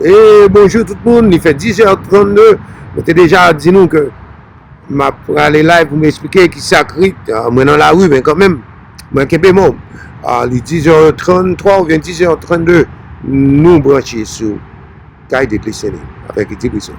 E bonjou tout moun, li fè 10 è 32, mwen te deja di nou ke m ap prale live pou m esplike ki sa k rit, mwen nan lari men kan menm, mwen kenbe mò m, li 10 è 33 ou byen 10 è 32, nou branche sou Kay Depi Sene, avèk Iti Brison.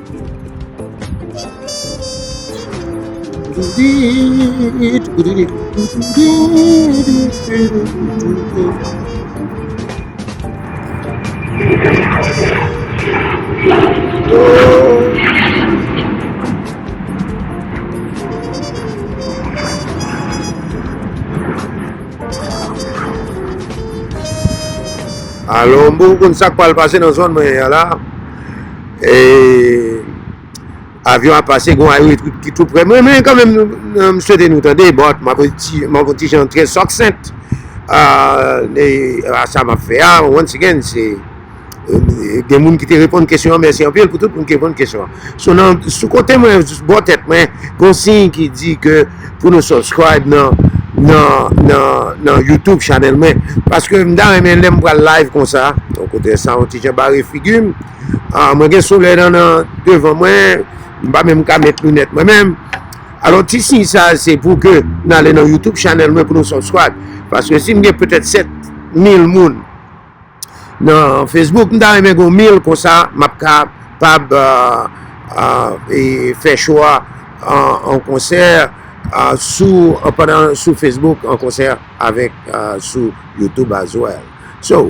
Alon, m poko konn sak pral pase nan zòn mwen ye a la. Avyon ap pase gou ayou ki tou pre mwen men kanmen m swete nou tande bòt ma pou ti jan tre sòk sent a sa m ap fè a ou wens gen se gen moun ki te reponn kesyon an mèsi anpil pou tout moun ki reponn kesyon an sou kote mwen bò tèt mwen gon siy ki di ke pou nou subscribe nan nan youtube chanèl mwen paske m ta renmen lè m pral live konsa kote sa ou ti jan bare figi m. Ah, mwen gen solèy nan nan devan mwen, m pa menm ka met lunèt mwen menm. Alò ti siy sa se pou ke n ale nan YouTube channel mwen pou nou subscribe. Paske si m gen petèt 7000 moun nan Facebook, m ta renmen gon 1000 konsa m ap ka pab fè show a an konsè sou Facebook an konsè avèk sou YouTube as well. So.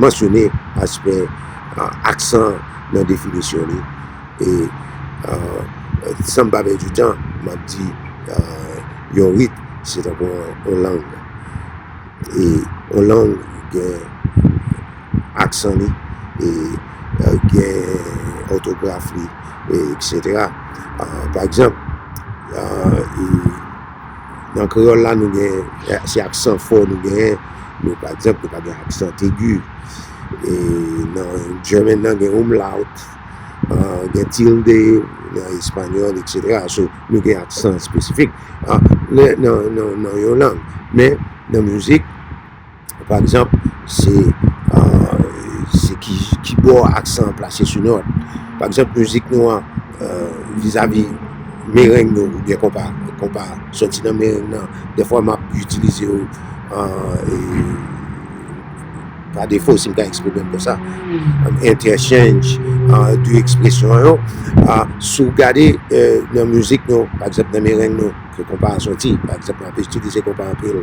mansyone aspè aksan nan definisyon li. E san m pa pèdi tan, m ap di yon rit se tankou yon lang. E yon lang gen aksan li, e gen òtograf li, eksetera. Pa egzanp. Nan kreyòl la nou gen, se aksan fò nou gen, nou pa egzanp nou pa gen aksan egi. E nan German nan gen umlaut, gen tilde nan espanyòl etc. So nou gen aksan espesifik nan yon lang. Men nan mizik Pa egzanp, se ki bò aksan an plase sou nòt. Pa egzanp, mizik nou an vizavi mereng nou ou byen konpa, konpa soti nan mereng nan. Defwa m ap itilize yo pa defo, si m ka eksprime m konsa. Entèchenj de ekspresyon yo. Si w gade nan mizik nou, pa egzanp nan mereng nou, ke konpa a soti. Pa egzanp, m ap itilize konpa anpil.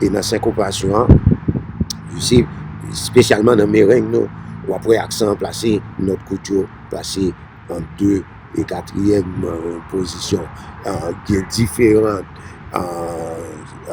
E nan senkopasyon an, se spesyalman nan mereng nou, w ap wè aksan an plase, nòt kout yo plase an 2 e 4 yèm pozisyon. Gen diferan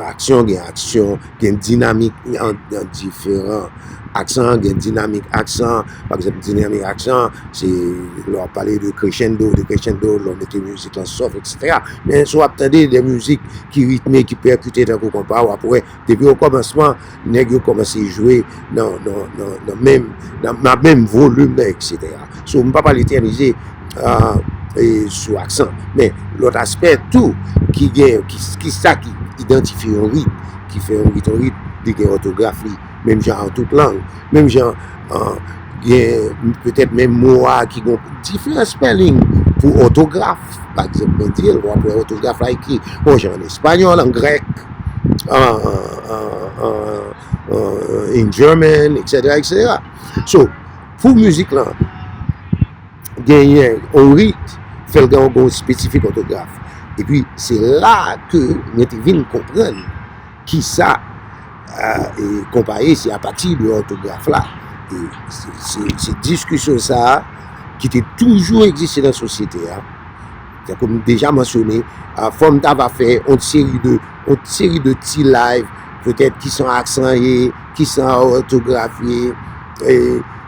aksyon, gen aksyon, gen dinamik an diferan. Aksan an gen dinamik aksan an, pa egzanp dinamik aksan an se lè wap pale de krechendo, dekrechendo, lè w mete mizik lan sòf eksetera men si wap tande de mizik ki ritme, ki pèkite tankou konpa wap wè depi okòmansman nèg yo kòmanse jwe nan nan menm volim nan eksetera so m pa pral etènize sou aksan men lòt aspè tou ki gen kisa ki idantifye yon rit ki fè yon rit yon rit li gen òtograf li. menm jan an tout lang, menm jan an gen petèt menm mo a ki gon diferan spèling pou òtograf, pa egzanp mwen di l, w ap wè òtograf la ekri yon jan an espanyòl, an grèk, an jèmen, eksetera, eksetera. So, pou mizik lan genyen yon rit, fè l gen yon bon espesifik òtograf. Epi, se la ke mwen te vin konprann. Ki sa konpaye se apati de òtograf la. Se diskisyon sa a ki te toujou egziste nan sosyete a. Jan ke m deja mansyone, fò m ta va fè yon seri de ti live, petèt ki san aksan ye, ki san òtograf ye.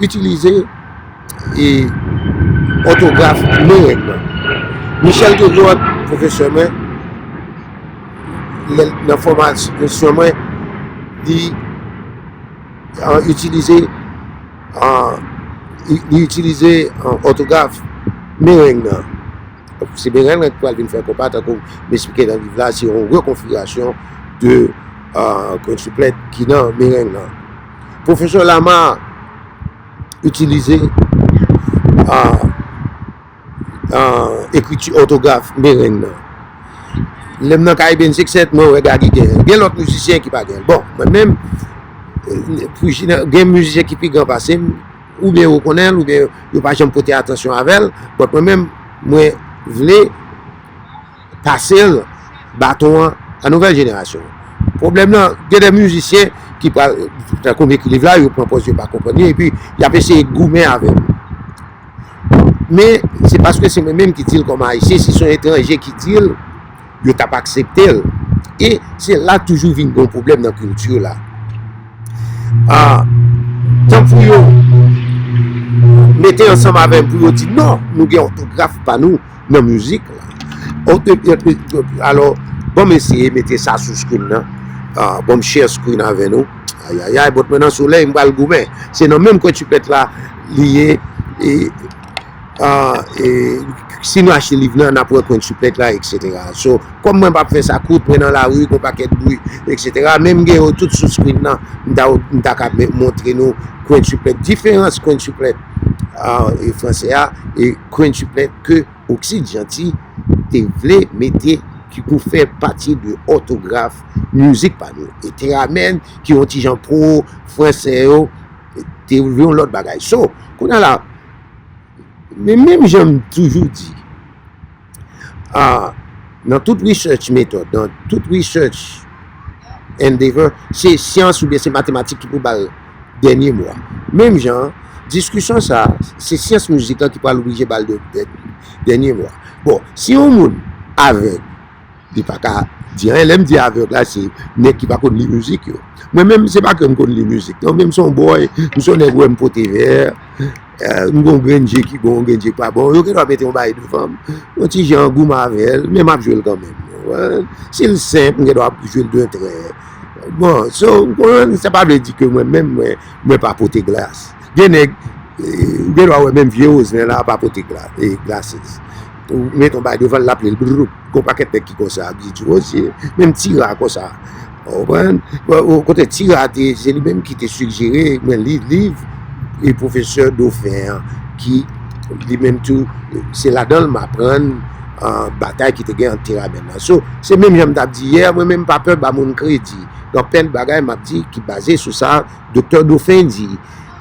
itilize e òtograf men nèg lan. Michel Guégot, pwofesè mwen, lè nan fòmasyon mwen, li itilize li itilize òtograf men nèg lan. Se men nèg lan ki pral vin fè konpa tankou m esplike nan liv la, se yon rekonfigirasyon de konsouplèt ki nan men nèg lan. Pwofesè Lamar itilize ekriti òtograf Meren nan. Lè m nan Caribbean Six Set, mwen wè Gaggy gen l. Gen lòt mizisyen ki pa gen l. Bon, mwen menm, gen mizisyen ki pi gran pase m, oubyen yo konnen l, oubyen yo pa janm pote atansyon avè l, bòt mwen menm, mwen vle. pase l baton an a nouvèl jenerasyon an pwoblèm nan gen de mizisyen ki pral tankou m ekri liv la yo pran pòz yo pa konprann li epi y ap eseye goumen avè m men se paske se mwen menm ki di l kòm ayisyen si son etranje ki di l yo t ap aksepte l e se la toujou vin gon pwoblèm nan kilti la a tankou yo mete ansanm avè m pou yo di non nou gen òtograf pa nou. nan mizik la ok epi alò banm eseye mete sa sou screen nan banm share screen avè nou ayayay bòt mwen nan solèy m pral goumen se nan menm kwen tchipèt la li ye si nou achte liv nan nap wè kwen tchipèt la etc so kòm mwen pap fè sa kout mwen nan lari gon pakèt bwi etc men m gen yo tout sou screen nan m ta ka montre nou kwen tchipèt diferans kwen tchipèt e franse a, e kwen suplè ke oksid janti te vle mete ki pou fè pati de òtograf mizik pa nou. E te amèn ki yon ti jan pou franse yo te vle yon lòt bagay. So, kounye la, men menm jan m toujou di. Ah, nan tout research method, nan tout research endeavor, se syans oubyen se matematik ki pou ba l dènye mo a. Menm jan an, diskisyon sa a, se syans mizik lan ki pral oblije ba l dènye mo a. Bon, si yon moun avèg, Li pa ka di anyen. Lè m di avèg la, se nèg ki pa konn li mizik yo. Mwen menm, se pa ke m konn li mizik non, men m se yon bòy, m se yon nèg wè m pote vè, m gen yon grenn je ki bon, yon grenn je ki pa bon, yo gendwa mete yon bagay devan m, yon ti jan goumen avè l, men m ap jwe l kanmenm. Si l senp, m gendwa jwe l dwen trè. Bon, so, ou konprann, sa pa vle di ke mwen menm, mwen pa pote glas. Gen nèg, ou gendwa wè menm vye Roselin la pa pote glas, e glasses. ou met yon bagay devan l l ap li l bwoup, gen yon pakèt nèg ki konsa ap di tou osi, menm ti ra konsa ou konprann, o kontrè ti ra te se li menm ki te sigjere mwen li liv e pwofesè Dofen an ki li menm tou se ladan l m aprann batay ki te gen ant Tiramen nan, so se menm jan m t ap di yè mwen menm m pa pè ba moun kredi gen anpil bagay m ap di ki baze sou sa doktè Dofen di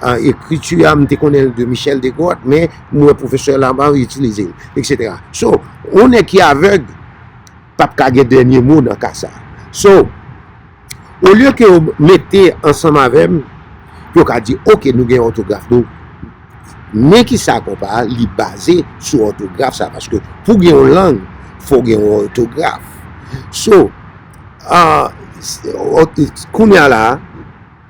ekriti a m te konnen l de Michel Desgrottes men. m wè pwofesè Lamar itilize l, eksetera. So, yon nèg ki avèg p ap ka gen dènye mo nan ka sa a. So, olye ke yo mete ansanm avè m, pou yo ka di, ok, nou gen òtograf nou, men ki sa konpa a, li baze sou òtograf sa a, paske pou gen yon lang, fò w gen yon òtograf. So, kounye a la a,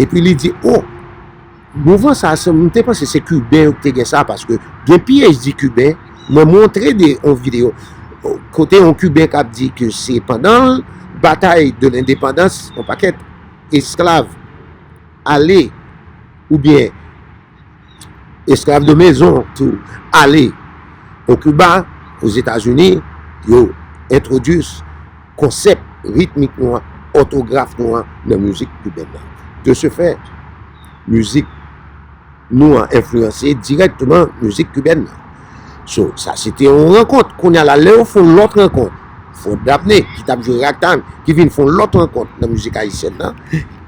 Epi li di, O! Mouvman sa a, m te panse se Kiben yo ki te gen sa, paske gen phd Kiben, mwen montre de yon videyo kote yon Kiben k ap di ke se pandan batay de lendepandans yon pakèt esklav ale oubyen esklav de mezon tou ale o Kiba, o Zetazini, yo entwodis konsèp ritmik nou an, òtograf nou an nan mizik kibèn nan. De se fè, mizik nou an enfliyanse dirèkteman mizik kibèn nan. So, sa se te yon rankont. Kounya la, lè yo fè yon lòt rankont, Fred Dabney ki t ap jwe ragtime ki vin fè yon lòt rankont nan mizik ayisyèn nan,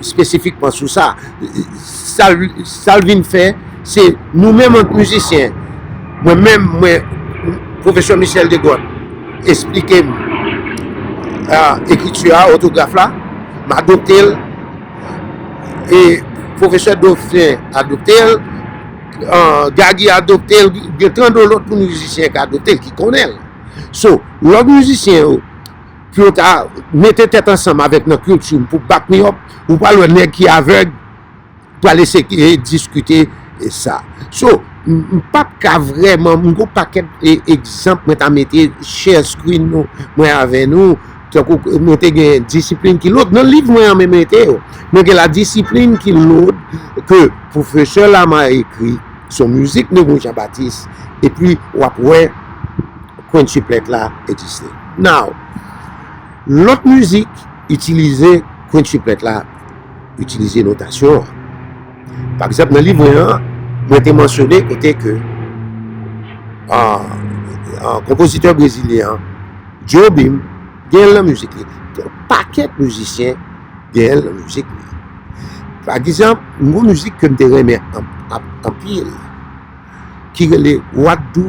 espesifikman sou sa. Sa l vin fè, se nou menm ant mizisyen, mwen menm, mwen, Pwofesè Michel Degonde, esplike m ekriti a, òtograf la, m adopte l, e Pwofesè Dauphin adopte l, Gaggy adopte l, gen tandon lòt mizisyen k adopte l, ki konnen l. So, lòt mizisyen yo. pou yo ta mete tèt ansanm avèk nan kilti m pou bak mi op, ou pral wè nèg ki avèg pral eseye diskite sa. So, m pa p ka vrèman, m gen yon pakèt egzanp mwen ta mete, share screen nou mwen avè nou, tankou mwen te gen disiplin ki lod, nan liv mwen an menm mete yo, mwen gen la disiplin ki lod ke pwofesè Lama ekri sou mizik Negro Jean Baptiste, epi w ap wè Kwenchiplèt la egziste. Now, lòt mizik itilize kwintiplet la itilize notasyon an. Pa egzanp nan liv mwen an, mwen te mansyone kote ke konpozitè brezilyen an, Jobim, genyen l nan mizik li. Gen yon pakèt mizisyen genyen l nan mizik li. Pa egzanp, yon gwo mizik ke m te renmen anpil ki rele What Do.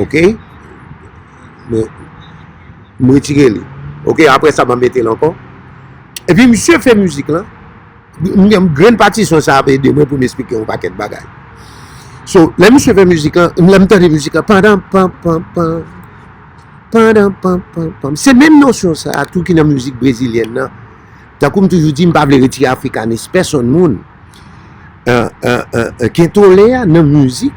Ok. Bon. M retire li. Ok, apre sa mwen mete l ankò. E pi misye fè mizik lan. M gen grenn patisyon sa ap ede mwen pou m esplike yon pakèt bagay. So, lè misye fè mizik lan, lè m tande mizik lan, pandan pam pam pam, pandan pam pam pam. Se menm nosyon sa a tou ki nan mizik brezilyèn nan. Tankou m toujou di, m pa vle retire afrikanis pèsonn moun. An, an, an, an, an, kentolè a nan mizik.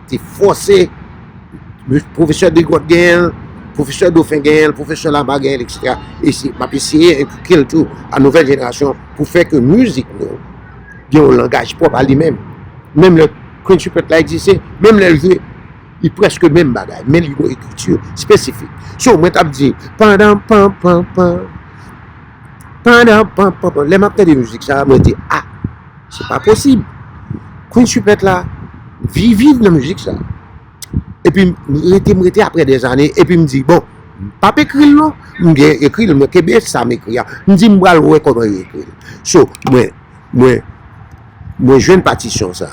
te fòse Pwofesè Degròt genyen l, Pwofesè Dofen genyen l, Pwofesè Laba genyen l, eksetera. E se, m ap eseye enkilke l tou a nouvèl jenerasyon pou fè ke mizik nou gen yon langaj pwòp a li menm. Menm lè Quincy Pet la egziste, menm lè l jwe, li prèske menm bagay, men li gen yon ekriti espesifik. So, mwen t ap di, pandan pan pan pan, pandan pan pan pan, lè m ap tande mizik sa a, mwen di, a! Se pa posib. Queen Choupette la vi viv nan mizik sa. Epi m rete m rete apre dèz ane epi m di bon m pap ekri l non. M gen ekri l mwen kenbe sa m ekri a. M di m pral wè kòman yo ekri l. So mwen mwen mwen jwenn patisyon sa.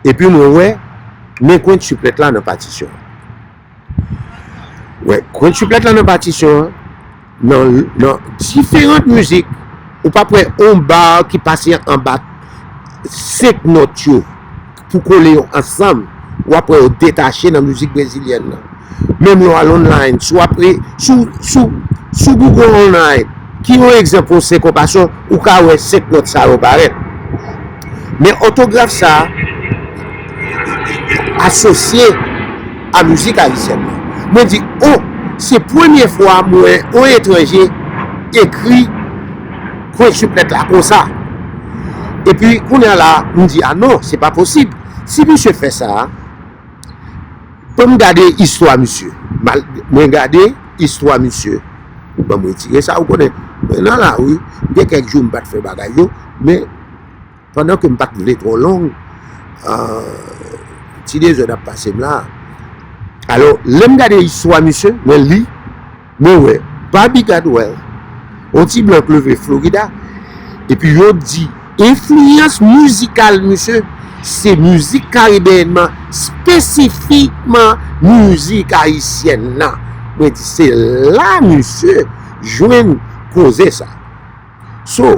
Epi mwen wè men Queen Choupette la nan patisyon an. Wè, kwen triplèt la nan patisyon an, nan, nan diferant mizik, ou pap wè on bar ki pase anba 5 nòt yo pou kole yo ansanm, ou ap wè yo detache nan mizik brezilyèn nan. Menm lè w al online, si w ap li, si w, si w, si w google online, ki yon egzanp yon senkopasyon, ou ka wè 5 nòt sa yo parèt. Men òtograf sa a. asosye a mizik ayisyèn nan. Mwen di oh se premye fwa m wè on etranje ekri Quintuplets la konsa. Epi kounya la m di ah non se pa posib si misye fè sa banm gade istwa misye. Mwen gade istwa misye banm retire sa ou konnen mwen nan lari gen kèk jou m pat fè bagay yo men. Pandan ke m pa t vle twò long, ti dezòd ap pase m la. Alò, lè m gade istwa misye, mwen li, mwen wè Bobby Gadwell, yon ti blan k leve Florida, epi yo di enfliyans mizikal misye se mizik karibeyen nan, spesifikman mizik ayisyèn nan. Mwen di se la misye jwenn koze sa. So.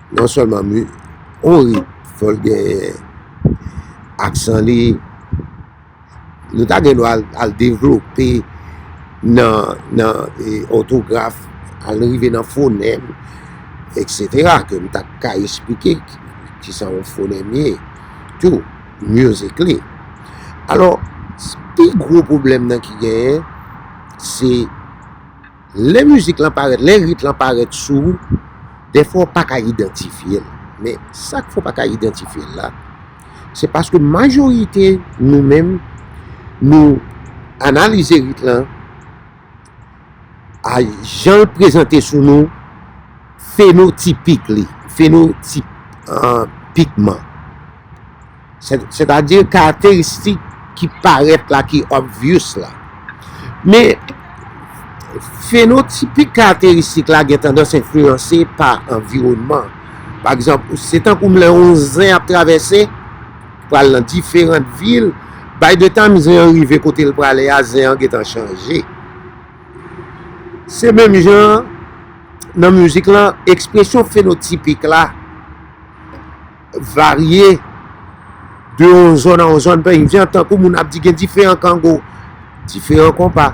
Non sèlman mi, on rit fòl genyen aksan li, nou ta gen dwa al devlope nan otograf, al rive nan fonèm, eksetera, ke nou ta ka esplike ki sa yon fonèm ye, tou, mizik li. Alò, pi gwo pwoblèm nan ki genyen, se... Lè mizik lan parèt, lè rit lan parèt sou ou, dèfwa ou pa ka idantifye l. Men, sa k fè ou pa ka idantifye l la, se paske majorite nou menm, nou analize rit lan a jan l prezante sou nou, fenotipik li, fenotipikman. Sètadi karakteristik ki parèt la, ki obvious la. Men, fenotipik karakteristik la gen tandans enfliyanse pa anviwònman. Pa egzanp, se tankoum lè yon zen ap travèse, ki pral nan diferant vil, bay de tanm zen an rive kote l prale a, zen an gentan chanje. Se menm jan an, nan mizik lan, ekspresyon fenotipik la, varye de yon zòn an yon zòn peyi. Jan tankou moun ap di gen diferan kango, diferan konpa,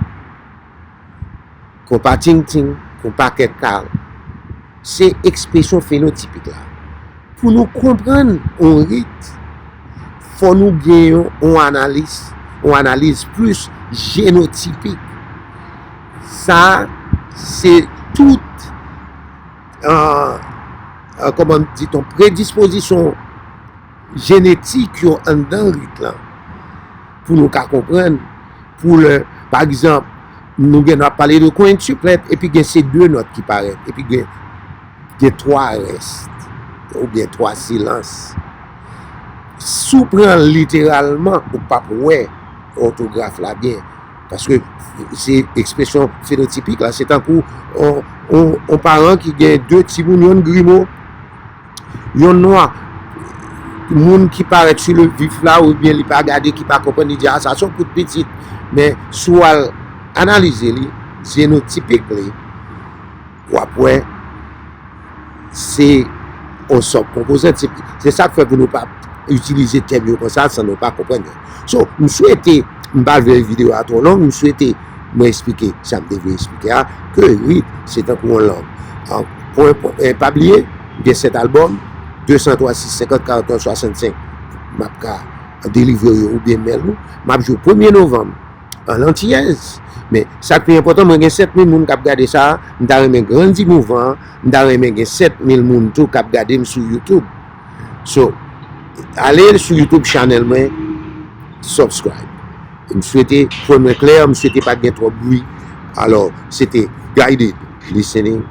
konpa ting ting, konpa kèk kal. Se ekspresyon fenotipik la. Pou nou konprann yon rit, fò nou gen yon analiz, yon analiz plis jenotipik. Sa se tout. kòman m di ton predispozisyon jenetik yo anndan rit lan pou nou ka konprann pou lè pa egzanp nou gen nan pale de kwentuplèt epi gen se 2 nòt ki parèt epi gen gen 3 rès ou gen 3 silans si w pran literalman ou pap wè òtograf la byen. Paske se ekspresyon fenotipik la, se tankou yon paran ki gen 2 timoun, yon grimo, yon nwa. Moun ki parèt sou le vif la, ou byen li pa gade, ki pa konpè, ni di a, sa son kout pitit. Men, sou al analize li, fenotipik li. wap wè se yon sòt konpozan, se sak fè pou nou pa itilize tèm yo konsa san nou pa konprann yo. So, m swete m pa fè videyo a twò long, m swete mwen esplike sa m te vle esplike a, ke rit se tankou yon lang. Pa bliye, m gen 7 albòm, 203 6 50 41 65 map ka delivre w yo oubyen mail ou, map jwe premye novanm. An antiyèz. Men, sa k pi enpòtan, mwen gen 7 mil moun k ap gade sa a, m ta renmen grandi mouvan an, m ta renmen gen 7 mil moun tou k ap gade m sou YouTube. So, ale sou YouTube chanèl mwen, subscribe. M swete pwen mwen klè, m swete pa t gen twòp bri. Alò, se te Guided Listening.